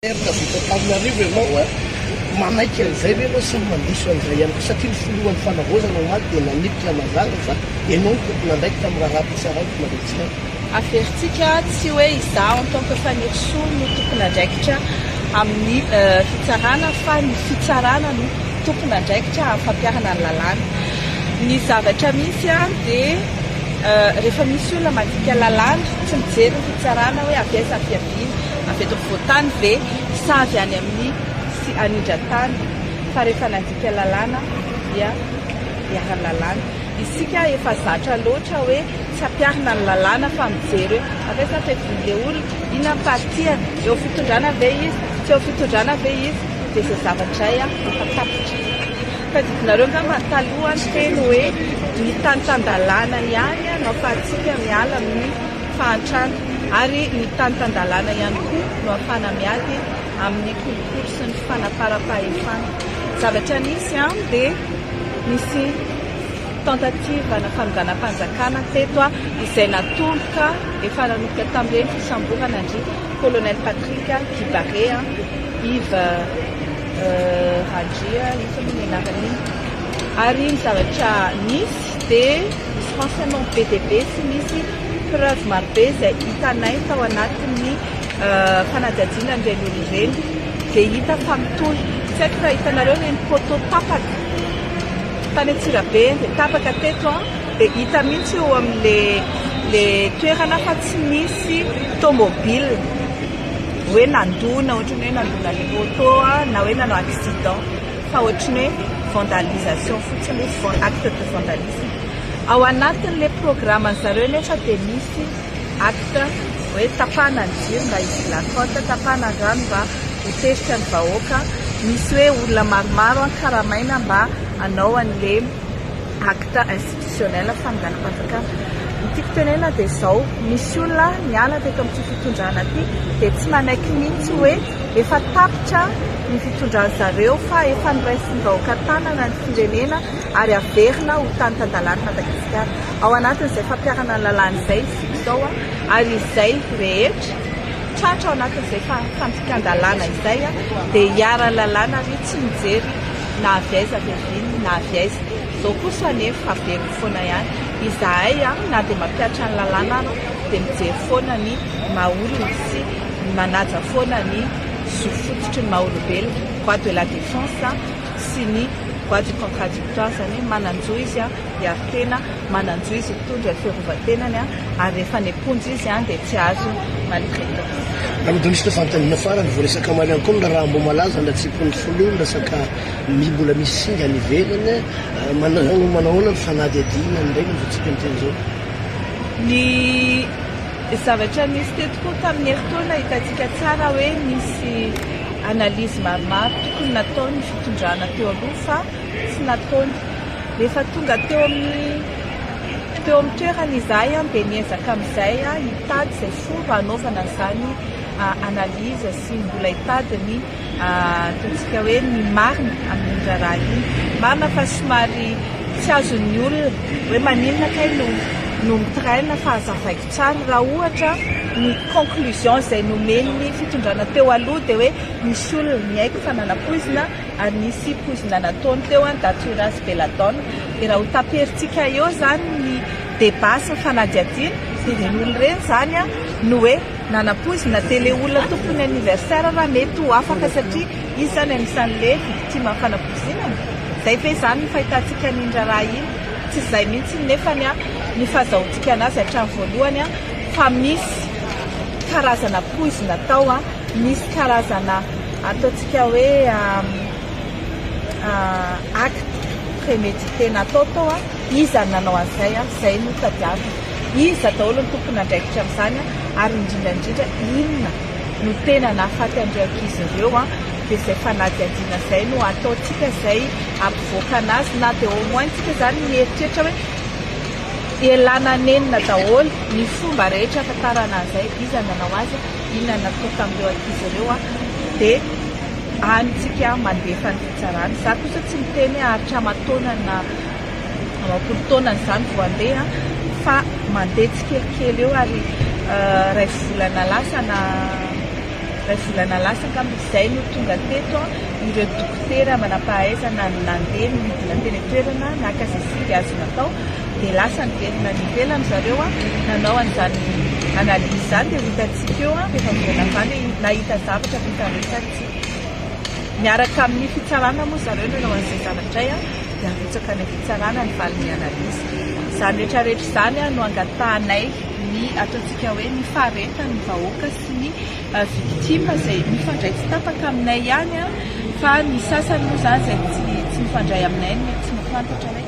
Alerte avy eto Antananarivo ianao a! Manaiky an'izay ve ianao sa mandiso an'izay ihany koa? Satria ny filohan'ny fanavaozana omaly dia nanipy Ramanzanga fa ianao no tompon'andraikitra amin'ny raharaham-pitsarana eto Madagasikara. Averintsika tsy hoe izaho en tant que Fanirisoa no tompon'andraikitra amin'ny fitsarana fa ny fitsarana no tompon'andraikitra amin'ny fampiharana ny lalàna. Ny zavatra misy dia rehefa misy olona mandika lalàna tsy mijery ny fitsarana hoe avy aiza ny fiaviany. Avy eto afovoan-tany ve sa avy any amin'ny sy anindran-tany? Fa rehefa nandika lalàna dia iharan'ny lalàna. Isika efa zatra loatra hoe tsy ampiharina ny lalàna fa mijery hoe avy aiza ny fevin'ilay olona, inona ny partie-ny, eo amin'ny fitondrana ve izy, tsy eo amin'ny fitondrana ve izy, dia izay zavatra izay efa tapitra. Tadidinareo angamba ny taloha ny teny hoe ny tany tan-dalàna ihany no ahafahantsika miala amin'ny. fahantrana ary ny tany tan-dalàna ihany koa no ahafahana miady amin'ny kolikoly sy ny fanaparam-pahefana. Zavatra nisy an, dia nisy tentative na fanonganam-panjakana teto an, izay natoloka efa nanomboka tamin'ireny fisamborana an-dry Colonel Patrick Kibare an, Yves Randria, inona moa ny anaran'iny, ary ny zavatra nisy. dia misy renseignements be dia be sy misy preuves maro be izay hitanay tao anatin'ny fanadihadiana an'ireny olona ireny dia hita fa mitohy. Tsy haiko raha hitanareo ireny poteau tapaka tany Antsirabe eny dia tapaka teto an, dia hita mihitsy eo amin'ilay toerana fa tsy misy tomobile hoe nandona, ohatran'ny hoe nandona ilay poteau na hoe nanao accident. fa ohatran'ny hoe vandalisation fotsiny izy, acte de vandalisme, ao anatin'ilay programan'ny zareo anefa dia misy acte hoe tapahana ny jiro mba hidiran'ny porte, tapahana ny rano mba ho tezitra ny vahoaka, misy hoe olona maromaro karamaina mba hanao an'ilay. acte institutionnel fanonganam-panjakana. Ny tiako tenenina dia izao, misy olona niala teto amin'ity fitondrana ity dia tsy manaiky mihitsy hoe efa tapitra ny fitondran-dry zareo fa efa noraisin'ny vahoaka an-tanana ny firenena ary haverina ho tany tan-dalan'i Madagasikara. Ao anatin'izay fampiharana ny lalàna izay isika izao ary izay rehetra tratra ao anatin'izay fandikan-dalàna izay dia iharan'ny lalàna ary tsy mijery na avy aiza avy avy iny na avy aiza. Izao kosa anefa haveriko foana ihany, izahay na dia mampihatra ny lalàna ary dia mijery foana ny maha olona sy manaja foana ny zo fototry ny maha olombelona, voix de la défense sy ny voix du contradictoire, izany hoe manan-jo izy. ary tena manan-jo izy hitondra ny fiarovan-tenany ary rehefa any am-ponja izy dia tsy azo maltraitance. Alohan'ny resaka fanontaniana farany, voaresaka omaly ihany koa ny raharaha Ambohimalaza, ny hatsempon'ny folo eo, ny resaka mi mbola misy singa any ivelany, manao manahoana ny fanadihadiana an'ireny amin'izao tsika miteny izao? Ny zavatra nisy teto koa tamin'ny herintaona hitantsika tsara hoe nisy analyse maromaro tokony natao ny fitondrana teo aloha fa tsy nataony. Rehefa tonga teo amin'ny teo amin'ny toerana izahay dia niezaka amin'izay hitady izay fomba hanaovana izany analyse sy mbola hitady ny ataontsika hoe ny marina amin'iny raharaha iny. Marina fa somary tsy azon'ny olona hoe maninona kay no no mitraina fa azavaiko tsara raha ohatra ny conclusion izay nomen'ny fitondrana teo aloha dia hoe misy olona ny haiko fa nanapoizina ary nisy poizina nataony teo an Datura sy Belladone dia raha ho taperintsika eo izany ny débat sy ny fanadihadiana dia ireny olona ireny izany an no hoe nanapoizina dia ilay olona tompon'ny anniversaire raha mety ho afaka satria izy izany anisan'ilay victime ny fanapoizinana izay ve izany ny fahitantsika an'iny raharaha iny tsy izay mihintsy nefany an ny fazahoantsika anazy hatramin'ny voalohany an fa misy karazana poizina tao an Misy karazana ataontsika hoe acte prémédité natao tao, iza no nanao an'izay, izay no tadiavina, iza daholo no tompon'andraikitra amin'izany ary indrindra indrindra inona no tena nahafaty an'ireo ankizy ireo, dia izay fanadihadiana izay no ataontsika izay hampivoaka an'azy na dia au moins tsika izany mieritreritra hoe ialana nenina daholo ny fomba rehetra hahafantarana an'izay iza no nanao azy. Inona no natao tamin'ireo ankizy ireo dia any isika mandefa ny fitsarana. Izaho kosa tsy miteny hoe haharitra aman-taonany na amam-polo taonany izany vao handeha fa mandeha tsikelikely eo ary iray volana lasa na iray volana lasa angamba izay no tonga teto ireo dokotera manam-pahaizana nandeha nidina teny an-toerana naka izay zinga azo natao. dia lasa niverina any ivelany zareo nanao an'izany analyse izany dia ho hitantsika eo rehefa miverina avy any hoe nahita zavatra avy tamin'izany tsika. Miaraka amin'ny fitsarana moa zareo nanao an'izay zavatra izay dia arotsaka any amin'ny fitsarana ny valin'ny analyse. Izany rehetrarehetra izany no angatahanay ny ataontsika hoe ny faharetan'ny vahoaka sy ny victimes izay mifandray tsy tapaka aminay ihany fa ny sasany moa izany izay tsy mifandray aminay no tsy mahafantatra hoe.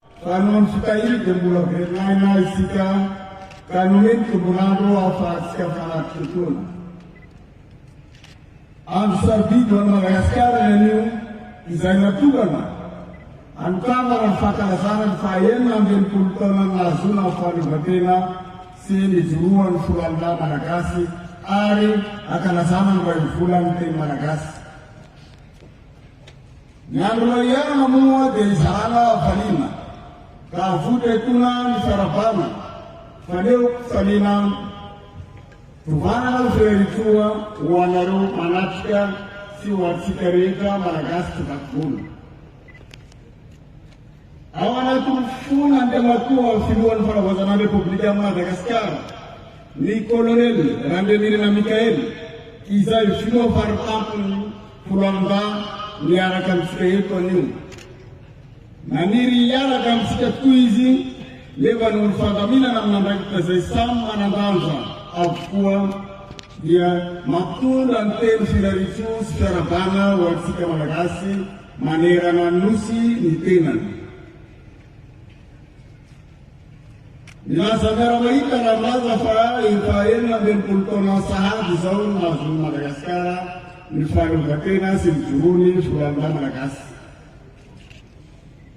Fa noho ny fitahiany dia mbola very aina isika ka nomen ny tombol'andro ahafahantsika manatrika fotoana. Andro sarobidy ho an'i Madagasikara ny anio izay natokana hanokanana ny fankalazana ny faha enina amby enimpolo taona nahazoana ny fahaleovantena sy nijoroan'ny foloalinahy Malagasy ary hankalazana ny iray volan'ny teny Malagasy. Ny andro iainana moa dia izahana valiana ka avotra etoana ny fiarahabana faneo samiana tovanana fireritsoa ho anareo manatrika sy ho antsika rehetra Malagasy tsy vaky volo. Ao anatin'ny fona ny temakohan'ny Filohan'ny Fanavaozanan'ny Repoblikan'i Madagasikara, ny Kolonely Randrianirina Michael, izay filoha faritampon'ny Foloalindahy miaraka amintsika eto anio. Naniry hiaraka amintsika tokoa izy nefa noho ny fandaminana amin'andraikitra izay samy manan-danja avokoa dia mampitondra ny teny Filaritsoa sy Fiarabana ho antsika Malagasy Manerana ny Nosy ny tenany. Milaza miara-mahita Ramaja fa efa enina ambin'ny folo taona sahady izao no nahazoan'i Madagasikara ny fahaleovantena sy nijoroany foloalindahy Malagasy.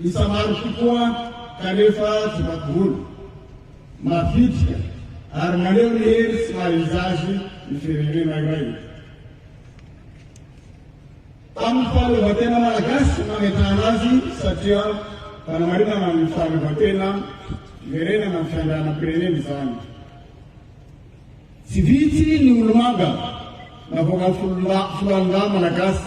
Isa maro tokoa kanefa tsy mampiholo, mavitrika ary maneho ny hery sy maha-izy azy ny firenena iray. Tamin'ny fahaleovantena malagasy nametrahana azy satria fanamarinana amin'ny fahaleovantena fiverenana ny fiandrianam-pirenena izany. Tsy vitsy ny olomanga navoakan'ny foloalindahy malagasy.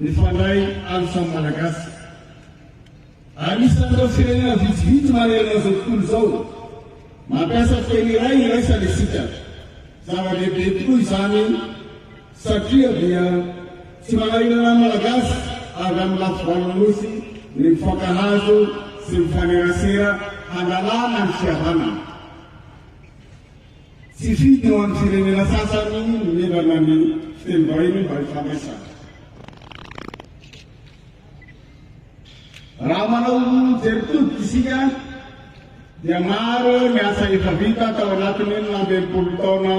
Mifandray any samy Malagasy. Anisan'ireo firenena vitsivitsy manerana izao tontolo izao mampiasa teny iray iraisana isika. Zava-dehibe tokoa izany satria dia tsy manahirana ny Malagasy avy amin'ny lafivalon'ny Nosy ny mifankahazo sy mifanerasera hanalana ny fihavanana. Tsy fito eo amin'ny firenena sasany no mihinana ny fitenim-bahiny mba hifandraisana. Raha manao jery todika isika dia maro ny asa efa vita tao anatin'ny enina amby enimpolo taona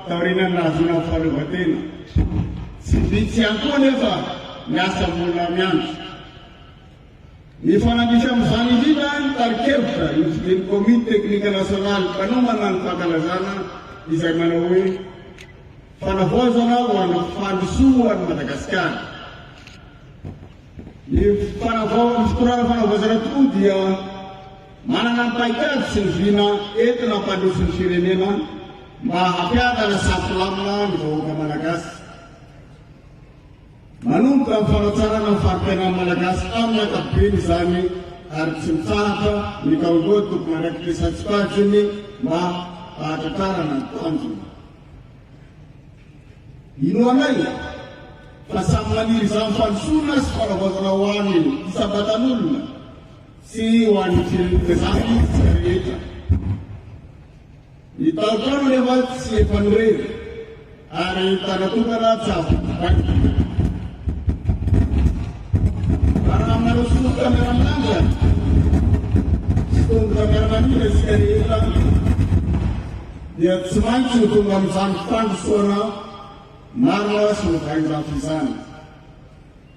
taorianan'ny nahazoana ny fahaleovantena. Tsy vitsy ihany koa anefa ny asa mbola miandry. Mifanandrify amin'izany indrindra ny tarikevitra nosonin'ny Komity Teknika Nasionaly mpanohana ny fankalazana izay manao hoe Fanavaozana ho an'ny fandrosoan'i Madagasikara. Ny fanavao ny fitondrana fanavaozana tokoa dia manana ny paikady sy ny vina entina hampandroso ny firenena mba hampiadana sy hampilamina ny vahoaka Malagasy. Manomboka ny fanatsarana ny fari-piainan'ny Malagasy amin'ny ankapobeny izany ary tsy mitsahatra ny kaongory tompon'andraikitra isan-tsokajiny mba hahatratrarana ny tanjona. Inoanay fa samy maniry izany fandrosoana sy fanavaozana ho an'ny isam-batan'olona sy ho an'ny firenena izany isika rehetra. Ny tantara anie mantsy tsy efa nireny ary ny tanan-tokana tsy ampy mibaiko. Raha marosoa kamera manja sy tongotra miara-manidina isika rehetra dia tsy maintsy ho tonga amin'izany fandrosoana marina sy mivaingavy izany.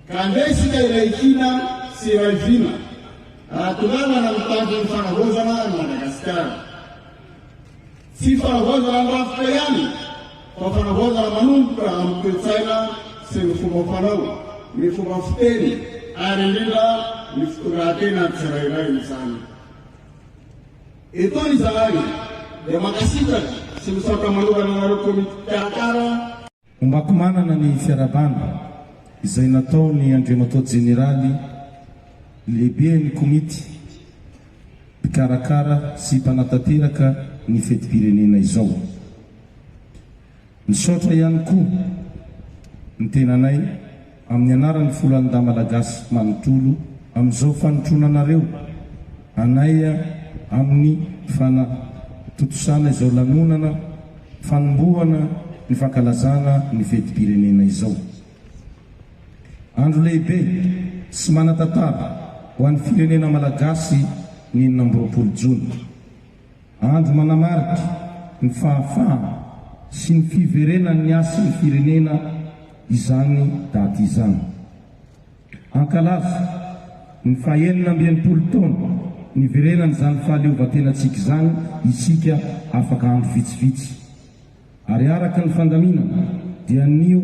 Ka andeha isika iray hina sy iray vina raha tohanana ny tanjon'ny fanavaozana an'i Madagasikara. Tsy fanavaozana ny rafitra ihany fa fanavaozana manomboka amin'ny toe-tsaina sy ny fomba fanao, ny fomba fiteny ary indrindra ny fitondratenan'ny tsirairay izany. Eto izahay dia mankasitraka sy misaotra manokana anareo komity mpikarakara. Omaky manana ny fiarahabana izay nataon'ny Andriamatoa Jeneraly Lehiben'ny Komity mpikarakara sy mpanatanteraka ny fetim-pirenena izao. Misaotra ihany koa ny tenanay Amin'ny anaran'ny foloalindahy malagasy manontolo amin'izao fanotrona anareo anay amin'ny fanatontosana izao lanonana fanombohana ny fankalazana ny fetim-pirenena izao. Andro lehibe sy manan-tantara ho an'ny firenena malagasy ny enina amby roapolo jona. Andro manamarika ny fahafahana sy ny fiverenan'ny hasin'ny firenena izany daty izany. Hankalaza ny fahenina amby enimpolo taona niverenan'izany fahaleovantenantsika izany isika afaka andro vitsivitsy. Ary araka ny fandaminana dia anio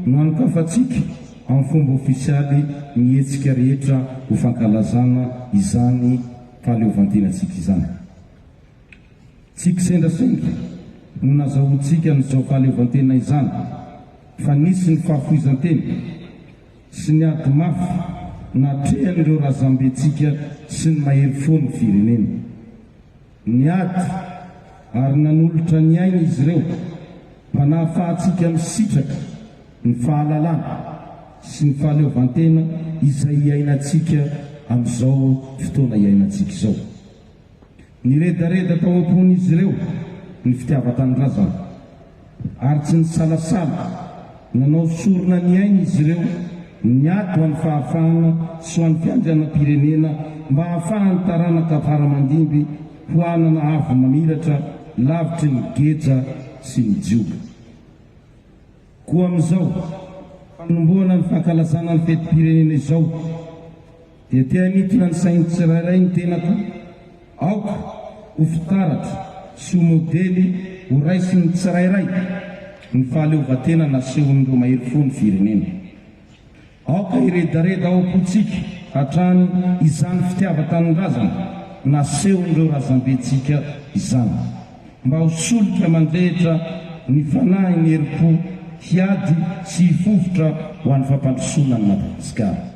no anokafantsika amin'ny fomba ofisialy ny hetsika rehetra ho fankalazana izany fahaleovantenantsika izany. Tsy kisendrasendra no nazahoantsika an'izao fahaleovantena izany fa nisy ny fahafoizan-tena sy ny ady mafy natrehan'ireo razambentsika sy ny mahery fo ny firenena. Niady ary nanolotra ny ainy izy ireo mba nahafahantsika misitraka ny fahalalana sy ny fahaleovantena izay iainantsika amin'izao fotoana iainantsika izao. Niredareda tao am-pon'izy ireo ny fitiavan-tanindrazana ary tsy nisalasala nanao sorona ny ainy izy ireo niady ho an'ny fahafahana sy ho an'ny fiandrianam-pirenena mba hahafahan'ny taranaka fara aman-dimby ho hanana avo mamiratra lavitry ny geja sy ny jioga. Koa amin'izao fanombohana ny fankalazana ny fetim-pirenena izao, Dia te hanintona ny sain'ny tsirairay ny tenako aoka ho fitaratra sy ho modely ho raisin'ny tsirairay ny fahaleovantena nasehon'ireo mahery fo ny firenena. Aoka hiredareda ao am-pontsika hatrany izany fitiavan-tanindrazana nasehon'ireo razambentsika izany mba ho solika mandrehitra ny fanahy ny herim-po hiady sy hifofotra ho an'ny fampandrosoana an'i Madagasikara.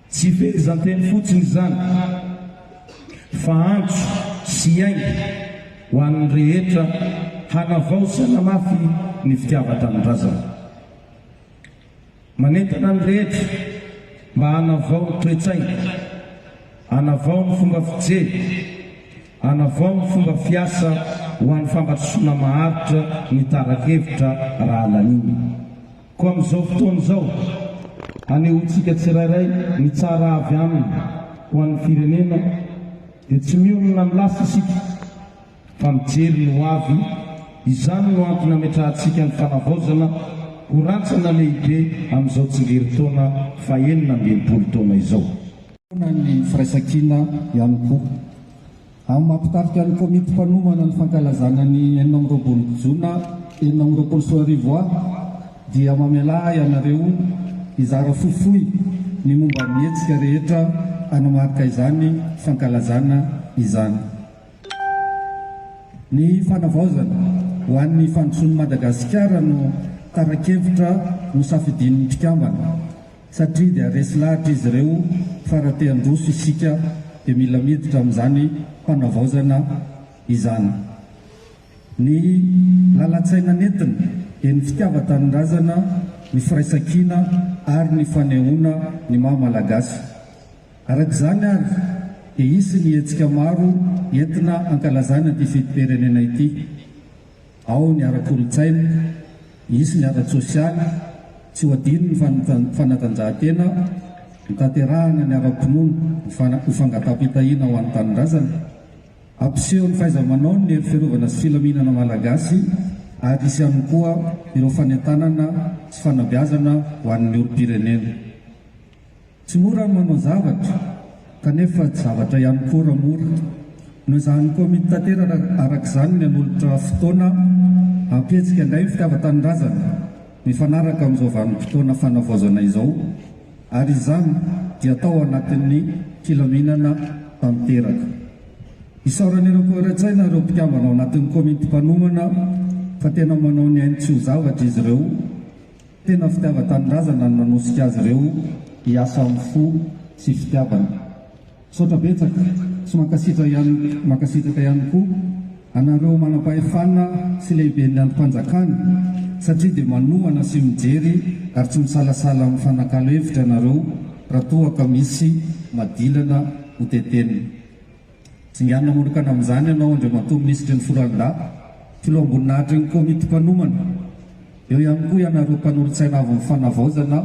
Tsy fehezanteny fotsiny izany fa antso sy aingy ho an'ny rehetra hanavaozana mafy ny fitiavan-tanindrazana. Manentana ny rehetra mba hanavao ny toe-tsaina, hanavao ny fomba fijery, hanavao ny fomba fiasa ho an'ny fampandrosoana maharitra ny tara-kevitra raha laniana. Koa amin'izao fotoana izao, anehoantsika tsirairay ny tsara avy aminy ho an'ny firenena, dia tsy mionona amin'ny lasa isika, fa mijery ny hoavy, izany no antony ametrahantsika ny fanavaozana ho rantsana lehibe amin'izao tsingerintaona fahenina amby enimpolo taona izao. Hoy ny firaisankina ihany koa, Amin'ny maha-mpitarika ny komity mpanomana ny fankalazana ny enina amby roapolo jona enina amby roapolo sy roa arivo aho dia mamelà ahy ianareo hizara fohifohy ny momba ny hetsika rehetra hanamarika izany fankalazana izany. Ny fanavaozana ho an'ny fandrosoan'i Madagasikara no tara-kevitra nosafidian'ny mpikambana. satria dia resy lahatra izy ireo fa raha te handroso isika dia mila miditra amin'izany fanavaozana izany. Ny lalan-tsaina nentiny dia ny fitiavan-tanindrazana, ny firaisan-kina ary ny fanehoana ny maha Malagasy. Araka izany ary dia hisy ny hetsika maro entina hankalazana ity fetim-pirenena ity. Ao ny ara-kolontsaina, hisy ny ara-tsosialy, tsy ho adino ny fanatanjahantena, ny tanterahana ny ara-pinoana ho fangataham-pitahiana ho an'ny tanindrazana. Hampiseho ny fahaiza-manaony ny hery fiarovana sy filaminana malagasy ary hisy ihany koa ireo fanentanana sy fanabeazana ho an'ny olom-pirenena. Tsy mora ny manao zavatra, kanefa tsy zavatra ihany koa raha mora. Noezahan'ny Komity Tanteraka araka izany ny hanolotra fotoana hampihetsika indray ny fitiavan-tanindrazana mifanaraka amin'izao vanim-potoana fanavaozana izao, ary izany dia tao anatin'ny filaminana tanteraka. Isaoran'ireo Koera-tsaina ireo mpikambana ao anatin'ny Komity Mpanomana fa tena manao ny ainy tsy ho zavatra izy ireo, Tena fitiavan-tanindrazana no nanosika azy ireo hiasa amin'ny fo sy fitiavana. Misaotra betsaka sy mankasitra ihany mankasitraka ihany koa anareo manam-pahefana sy lehiben'ny andrim-panjakana satria dia manohana sy mijery ary tsy misalasala mifanakalo hevitra ianareo raha toa ka misy madilana hotetenina. Tsinganina manokana amin'izany ianao Andriamatoa Minisitry ny Foloalindahy, Filoham-boninahitrin'ny Komity Mpanomana, eo ihany koa ianareo Mpanolotsaina avy ny Fanavaozana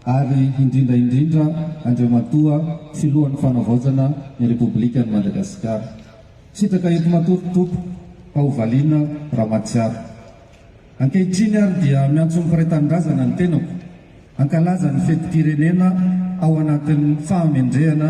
ary indrindra indrindra Andriamatoa Filohan'ny Fanavaozana ny Repoblikan'i Madagasikara. Sitraka eto matory Topo Haovaliana Ramatsiaro. Ankehitriny ary dia miantso ny mpiray tanindrazana ny tenako hankalaza ny fetim-pirenena ao anatin'ny fahamendrehana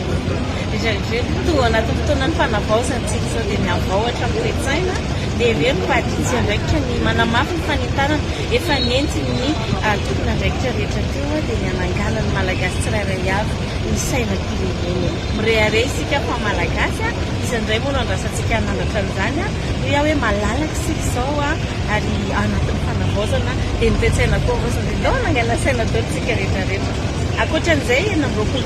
Irery toa anatin'ny fotoanan'ny fanavaozana isika izao dia mihavao hatramin'ny toe-tsaina, dia irery fa aditsy andraikitra ny manamafy ny fanentanana efa nentin'ny tompon'andraikitra rehetra teo dia ny hanangana ny Malagasy tsirairay avy ny sainam-pirenena. Mirehareha isika fa Malagasy, iza indray moa no andrasantsika hanandratra an'izany? Hoy aho hoe malalaka isika izao ary anatin'ny fanavaozana dia ny toe-tsaina koa havaozina dia ndao hanangana saina daholo isika rehetra rehetra. Ankoatra an'izay enina amby roapolo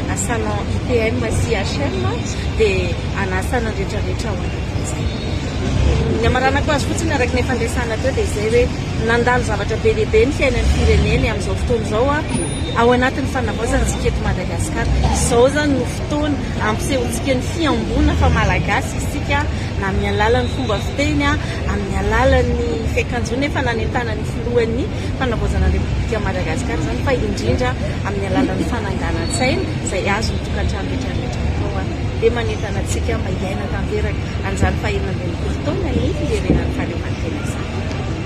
Asanao IPM sy HM dia hanasa ny rehetra rehetra ho any Ankozy. Ny hamaranako azy fotsiny araka ny efa niresahana teo dia izay hoe nandalo zavatra be dia be ny fiainan'ny fireneny amin'izao fotoana izao ao anatin'ny fanavaozana ny siketo Madagascar. Izao izany no fotoana ampisehoantsika ny fihamboana fa Malagasy isika na amin'ny alalan'ny fomba fiteny, amin'ny alalan'ny fiakanjoana efa nanentanan'ny filohan'ny fanavaozana ny Repoblikan'i Madagasikara izany fa indrindra amin'ny alalan'ny fananganan-tsaina izay azon'ny tokantrano rehetra rehetra atao an, dia manentana antsika mba hiaina tanteraka an'izany fahenina ambin'ny folo taona ny fiverenan'ny fahaleovantena izany.